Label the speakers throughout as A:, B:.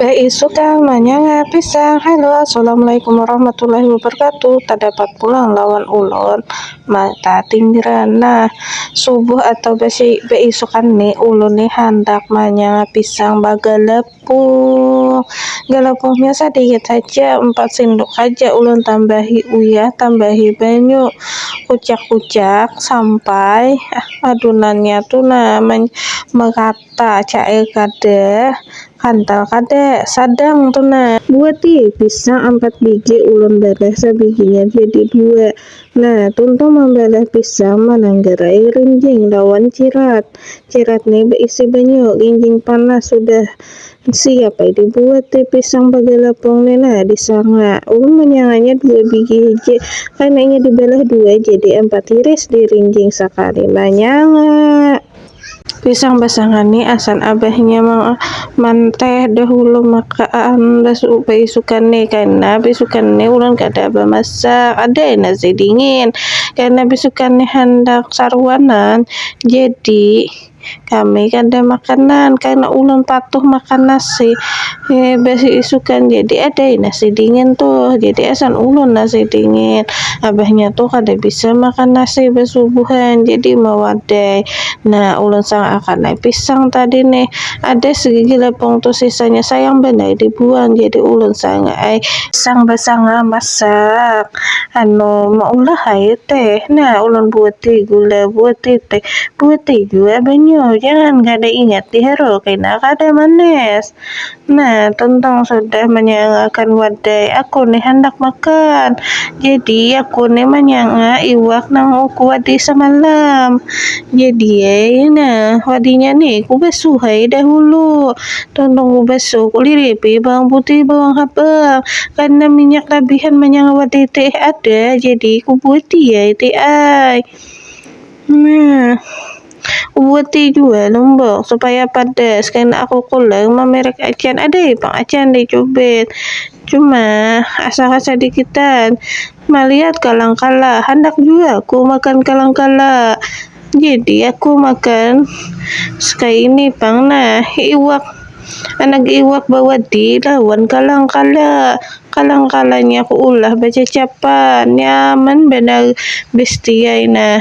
A: Baisukan manyanga pisang Halo Assalamualaikum warahmatullahi wabarakatuh Tadapat pulang lawan ulun Mata tinggiran Nah subuh atau basi baisukan ni ulun ni handak manyanga pisang bagalapuh Galapuhnya sadikit haja empat sinduk haja ulun tambahi uyah tambahi banyu Kuciak-kuciak sampai adunannya tu nah merataan. Ta, cair kada, kantal kada, sadang tu nah. Buah ti, pisang ampat bigi ulun barah sabiginya jadi dua. Nah, tuntung mambarah pisang mananggarai rinjing lawan cirat. Cirat ni baisi banyu, rinjing panas sudah siap ai dibuat ti pisang bagalapung ni nah disanga. Ulun manyanganya dua bigi hiji karna inya dibalah dua jadi ampat iris dirinjing sakali manyanga. Pisang basangan ni asan abahnya manteh dahulu maka aan baisukan ni karna baisukan ni ulun kada bamasak ada ai nasi dingin karna baisukan ni handak saruanan jadi kami kada makanan karna ulun patuh makan nasi. He basi isukan jadi ada nasi dingin tuh jadi asan ulun nasi dingin abahnya tuh kada bisa makan nasi basubuhan jadi mawadai nah ulun sanga akan ai pisang tadi nih ada segigi lepung tuh sisanya sayang banar dibuang jadi ulun sanga ai pisang basanga masak. Anu, maulah hae teh, nah ulun buati gula, buati teh, buati jua banyu, jangan kada ingat diharu kena kada manis. Nah, tuntung sudah manyangakan wadai, aku ni handak makan, jadi aku ni manyanga iwak nang aku wadai samalam, jadi ai nah wadinya ni kubasuh ai dahulu. Tolong babasu kulilit di bawang putih, bawang habang karena minyak labihan manyangawat di teh ada jadi kubuati ya teh ai. Nah, kubuati jua lombok supaya padas karena aku kulang mamerek acan ada pang acan di cubit. Cuma asa kasadikitan malihat kalang kala handak jua ku makan kalang kala. Jadi aku makan sekaya ini pang nah iwak anak iwak bawadi lawan kalang kala kalang kalanya aku ulah bacacapan nyaman banar bestiai nah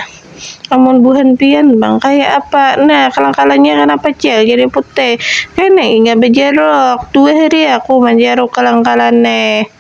A: amun buhan pian pang kaya apa nah kalang kalanya kanapa jar jadi putih kena inya bajaruk dua hari aku manjaruk kalang kala ne.